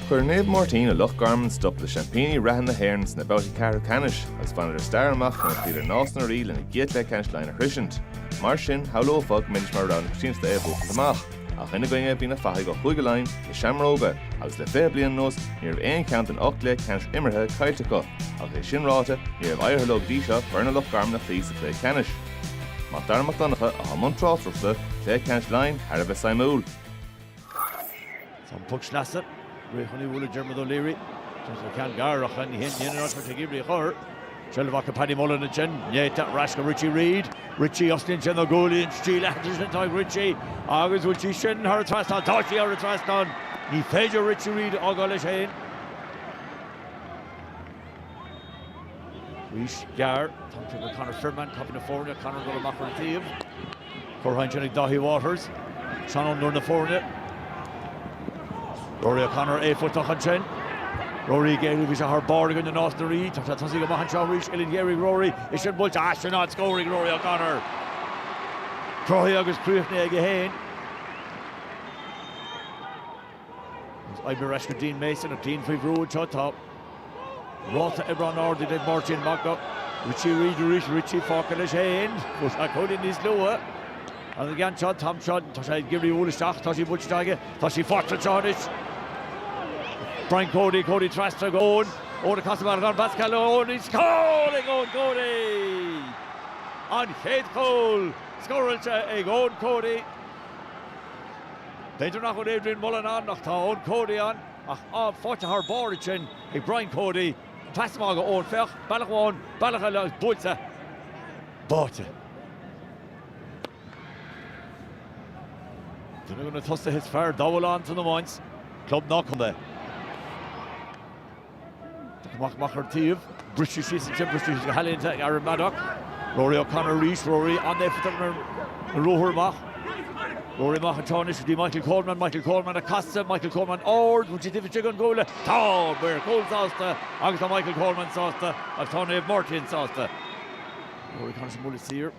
Chuir Naomh Máirtín i Loch Garman stop le seaimpíní reatha na hÉireann sna babhtaí ceathrú ceannais agus bhaineadar stair amach nuair a chloíodar Nás na Rí lena gcéad chluiche ceannais Laighean a shroisint. Mar sin, shamhlófá go mbeidís mar rogha na coitianta é a bhuachaint amach. Ach ina gcoinne bhí na fathaigh ó Chúige Laighean, na Seamróga, agus le fiche bliain anuas ní raibh aon cheann den ocht gcluiche ceannais imeartha caillte acu. Ach é sin ráite, ní raibh éirithe leo go dtí seo foirne Loch Garman a chloí sa chluiche ceannais. Mac Dara Mac Donncha atá i mbun tráchtaireachta, cluiche ceannais Laighean thar a bheith suimiúil. Tá an poc sleasa réidh chun í a bhualadh ag Diarmuid O'Leary. Seans gur ceann gar ach ní hin í an áit a bhí sé ag iarraidh í a chur. Seilbh ag Paddy Mullen ansin. Néata ar ais go Richie Reid. Richie os cionn na gualainne, an stíl aitheanta sin atá ag Richie agus bhfuil sí sin thar an trasnán? Tá sí thar an trasnán. Ní féidir Richie Reid a fhágáil leis féin. Arís gearr, tugtar go Conor Firman, caiptín na foirne, Conor ag dul amach ar an taobh. Curtha ansin ag Dáithí Waters, seanfhondúir na foirne. Rory O'Connor éifeachtach ansin. Rory ag éirí, bhí sé thar barr i gcoinne Nás na Rí, tá sé ag tosaí go maith anseo arís, uillinn ghéar ag Rory, is sin buailte as sin áit scór ag Rory O'Connor. Cruthaithe agus críochnaithe aige féin. Agus oibrithe ar ais go Dean Mason ach Dean faoi bhrú anseo tá ráta oibre an-ard ag Naomh Máirtín. Amach go Richie Reid arís, Richie fágtha leis fhéin, fuair sé cúilín níos luaithe. Agus an ceann seo, an t-am seo, tá sé ag iarraidh í a bhualadh isteach, tá sí buailte isteach aige, tá sí faighte anseo anois. Brian Cody, Cody trasna go Eoin, Eoin ag casadh amach ar Pascal Ó Eoin arís, cúl ag Eoin Cody! An chéad chúl scóráilte ag Eoin Cody. B'fhéidir nach bhfuil Adrian Mullen ann ach tá Eoin Cody ann ach faighte thar barr ansin ag Brian Cody. Pas amach go Eoin, féach, bealach amháin, bealach eile agus buailte, báite. Duine de na tosaithe is fearr dá bhfuil ann san iomáint, club ná contae. Amach amach ar an taobh. Briste síos an timpeall síos go healaíonta ag Aaron Maddock. Rory O'Connor arís, Rory an-éifeachtach ar an ruathar amach. Rory amach anseo anois go dtí Michael Coleman, Michael Coleman ag casadh, Michael Coleman ard, bhfuil sé taobh istigh den chuaille. Tá an maor cúil sásta agus tá Michael Coleman sásta agus tá Naomh Máirtín sásta. Rory Connor sa mbualadh siar.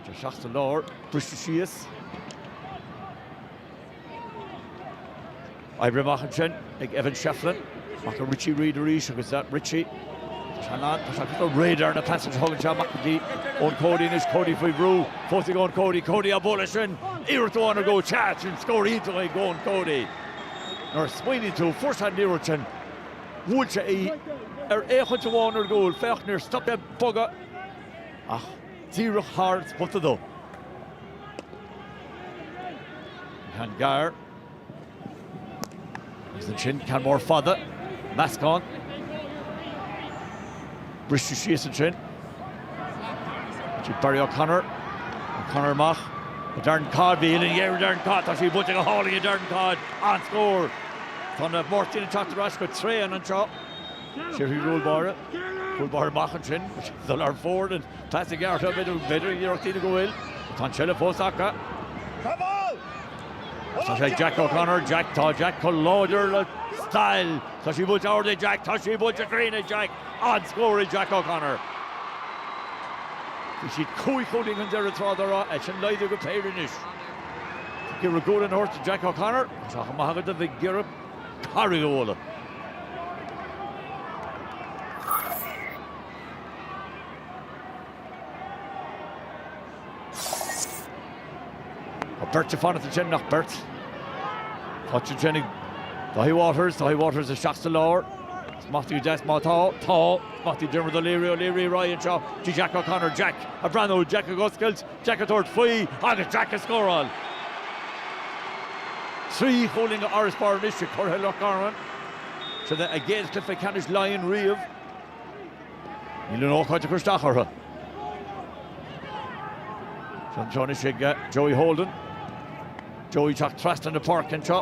Tugtar isteach sa lár, briste síos. Oibrithe amach ansin ag Evan Shefflin, amach go Richie Reid arís agus is é Richie atá ann. Tá sé ar nós radar na pasanna a thugann sé amach go dtí Eoin Cody anois, Cody faoi bhrú, fós ag Eoin Cody, Cody á bpá leis sin, iarracht amháin ar an gcúl, sea, sin scór iontach ag Eoin Cody. Nuair a smaoiníonn tú, fuair sé an liathróid sin, bhuail sé í féachaint amháin ar an gcúl, féach, níor stop sé ag bogadh. ach díreach thar spota dó. Ceann gearr agus ansin ceann mór fada, meascán. Briseadh síos ansin. Barry O'Connor. O'Connor amach. Darren Codd bhí in airde Darren Codd. Tá sí buailte go hálainn ag Darren Codd. An-scór. Tá na Máirtíní ag teacht ar ais go tréan anseo. Sé thar an gcúl báire. Cúl báire amach ansin. Dul thar fóir an pas gearr seo b'fhéidir, b'fhéidir iarracht déanta go bhfuil. Tá an seilbh fós acu. Tá sé ag Jack O'Connor. Jack, tá Jack chomh láidir le stail. Tá sí buailte ard ag Jack. Tá sí buailte cruinn ag Jack. An-scór ag Jack O'Connor. Bhí siad cúig chúilín chun deiridh tráth dá raibh é sin laghdaithe go péire anois. Ag iarraidh gualainn a thabhairt do Jack O'Connor. Tá sé chomh maith agat a Mhic Giorra. Carraig Ó Lá. Tá beirt ag fanacht ansin, nach beirt? Tá sí sin ag Dáithí Waters, Dáithí Waters isteach sa lár. Smachtaithe go deas má tá, tá. Smachtaithe ag Diarmuid O'Leary, O'Leary, ar aghaidh anseo, Jack O'Connor, Jack ag breathnú, Jack ag oscailt. Jack ag tabhairt faoi agus Jack ag scóráil! Trí chúilín d'fharasbarr anois ag curaidh Loch Garman. Sin é a gcéad chluiche ceannais Laighean riamh. Níl an ócáid ag cur isteach orthu. Tá sí seo anois ag Joey Holden. Joey ag teacht trasna na páirce anseo.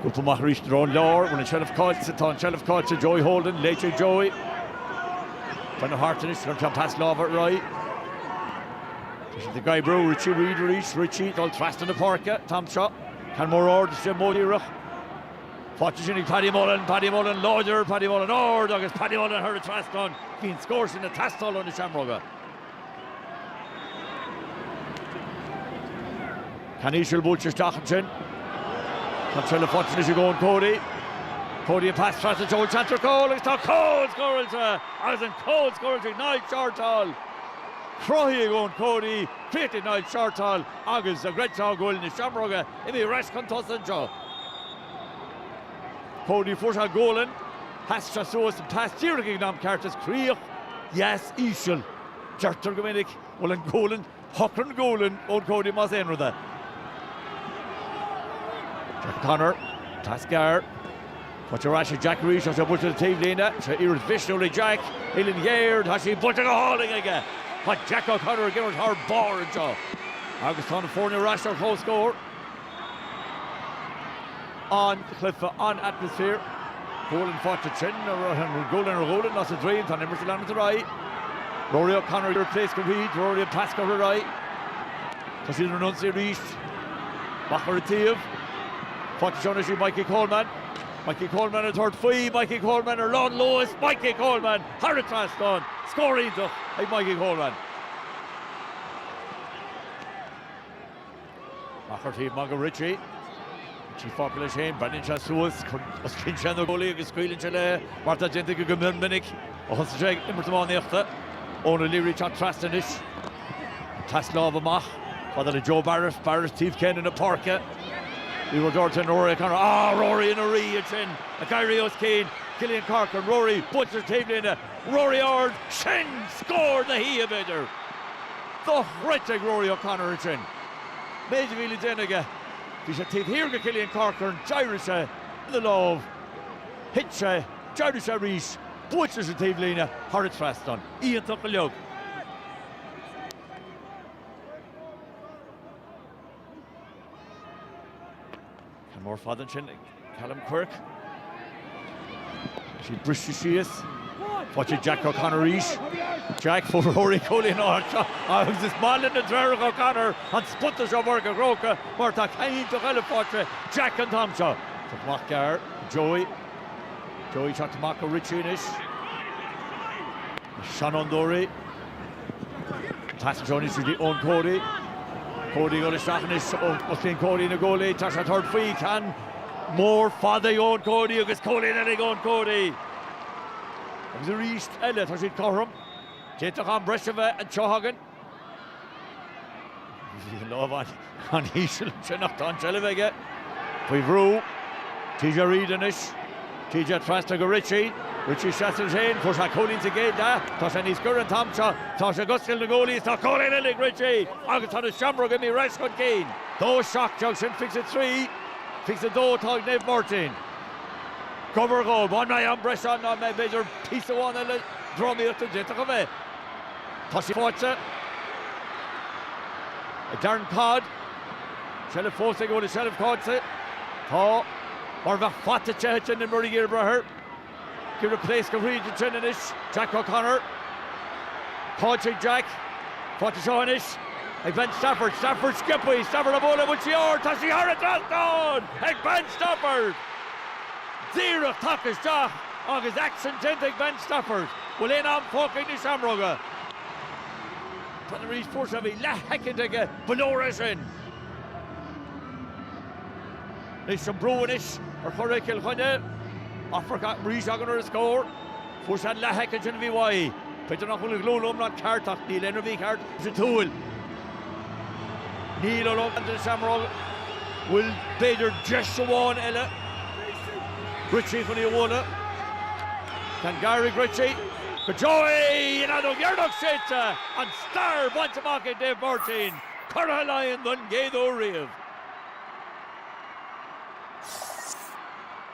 Scuabtha amach arís na Rón Leabhar, bhain an tseilbh caillte, tá an tseilbh caillte, Joey Holden, Léite ag Joey. Baineadh thart anois an ceann pas láimhe ar aghaidh. Tá siad ag oibriú, Richie Reid arís, Richie, dul trasna na páirce, Tom seo, ceann mór ard is beagnach díreach. Faighte ansin ag Paddy Mullen, Paddy Mullen láidir, Paddy Mullen ard agus Paddy Mullen thar an trasnán, bhí an scór sin ag teastáil ó na Seamróga. Ceann íseal buailte isteach ansin. Tá tuilleadh fortúnais ag Eoin Cody. Cody an pas trasna deis anseo ar chúl agus tá cúl scóráilte agus an cúl scóráilte ag Niall Shortall. Cruthaithe ag Eoin Cody, críochnaithe ag Niall Shortall agus an gcreidfeá go bhfuil na Seamróga imithe ar ais chun tosaigh anseo. Cody fuair sé gualainn. Pas deas suas an pas díreach ag an am ceart is críoch dheas íseal. Deirtear go minic bhuel an gualainn shocraigh an gualainn ón Cody más aon rud é. Jack O'Connor, pas gearr. Faighte ar ais ag Jack arís is é buailte ar an taobhlíne. Seo iarracht mhisniúil ag Jack. Uillinn ghéar, tá sí buailte go hálainn aige. Tá Jack O'Connor ag imirt thar barr anseo. Agus tá na foirne ar ais ar comhscór. an-chluiche, an-atmaisféar. Gualainn faighte ansin a ritheann ó ghualainn ar ghualainn as a droim. Tá an imirt ag leanacht ar aghaidh. Rory O'Connor ag pléascadh fríd. Rory ag pléascadh ar aghaidh. Tá siad ar an ionsaí arís. Amach ar an taobh. Faighte anseo anois ag Mikey Coleman. Mikey Coleman ag tabhairt faoi. Mikey Coleman ar lánluas. Mikey Coleman thar an trasnán. Scór iontach ag Mikey Coleman. Amach ar an taobh amach go Richie, Richie fágtha leis féin, breathnaíonn sé suas, osclaíonn sé na guaillí agus scaoileann sé léi, mar atá déanta aige go mion minic ó thosaigh sé ag imirt iománaíochta. Eoin O'Leary ag teacht trasna anois, pas láimhe amach chomh fada le Joe Barrett, Barrett taobh céanna na páirce, Ní raibh deor teine Rory O'Connor, ah Rory ina rí ansin, ag éirí os cionn Cillian Corcoran, Rory buailte leis an taobhlíne, Rory ard, sin scór na hoíche b'fhéidir dochreidte ag Rory O'Connor ansin. Méid a bhí le déanamh aige, bhí sé taobh thiar de Cillian Corcoran, d'éirigh sé ina lámh, thit sé, d'éirigh sé arís, buailte leis an taobhlíne, thar an trasnán, iontach go leor. Ceann mór fada ansin ag Callum Quirke. Tá siad briste síos. Faighte ag Jack O'Connor arís. Jack, fuair Rory cúilín ón áit seo agus is maith leis na deartháireacha O'Connor an spota seo i bPáirc an Chrócaigh mar tá ceann iontach eile faighte ag Jack an t-am seo. Poc amach gearr Joey. Joey teacht amach go Richie anois. Seanfhondúirí. Tá sí anseo anois ag Eoin Cody. Cody ag dul isteach anois osclaíonn Cody na guaillí. Tá sé ag tabhairt faoi. Ceann mór fada ag Eoin Cody agus cúilín eile ag Eoin Cody. Agus arís eile tá siad cothrom. D'fhéadfadh am breise a bheith anseo chugainn. Bhí an lámh an. an-íseal ansin ach tá an tseilbh aige. Faoi bhrú. TJ Reid anois. TJ trasna go Richie. Richie ina sheasamh leis féin, fuair sé cúilín sa gcéad leath, tá sé níos gaire an t-am seo, tá sé ag oscailt na guaillí is tá cúilín eile ag Richie agus tá na Seamróga imithe ar ais chun cinn. Dó seacht déag sin fiche is a trí fiche is a dó atá ag Naomh Máirtín. Gabhar dhó, an mbeidh am breise ann an mbeidh b'fhéidir píosa amháin eile drámaíochta d'fhéadfadh a bheith. Tá sí faighte ag Darren Codd. Seilbh fós ag Ole Seilbh faighte. Tá mar bheadh fata te aici in imirt iar brother. Ag iarraidh pléascadh thríd ansin anois. Jack O'Connor. Faighte ag Jack. Faighte anseo anois ag Ben Stafford. Stafford sciobtha. Stafford á bualadh. Buailte ard. Tá sí thar an trasnán ag Ben Stafford. Díreach tagtha isteach agus aicsean déanta ag Ben Stafford. Bhfuil aon am fágtha ag na Seamróga? Tá Richie Power, bhí leathshoicind aige, ba leor é sin! Anois an brú anois ar churaidh Chill Chainnigh, athrú arís againn ar an scór. Fuair sé an leathshoicind sin a bhí uaidh. B'fhéidir nach bhfuil an ghlúin iomlán ceart ach níl aon ní mícheart sa tsúil. Níl a rogha ag na Seamróga. Bhfuil b'fhéidir deis amháin eile? Richie chun í a bhualadh. Caithfidh gairid, Richie, go deo é, an fheadóg dheireanach séidte an stair bainte amach ag Dave Martin, curaidh Laighean don gcéad uair riamh.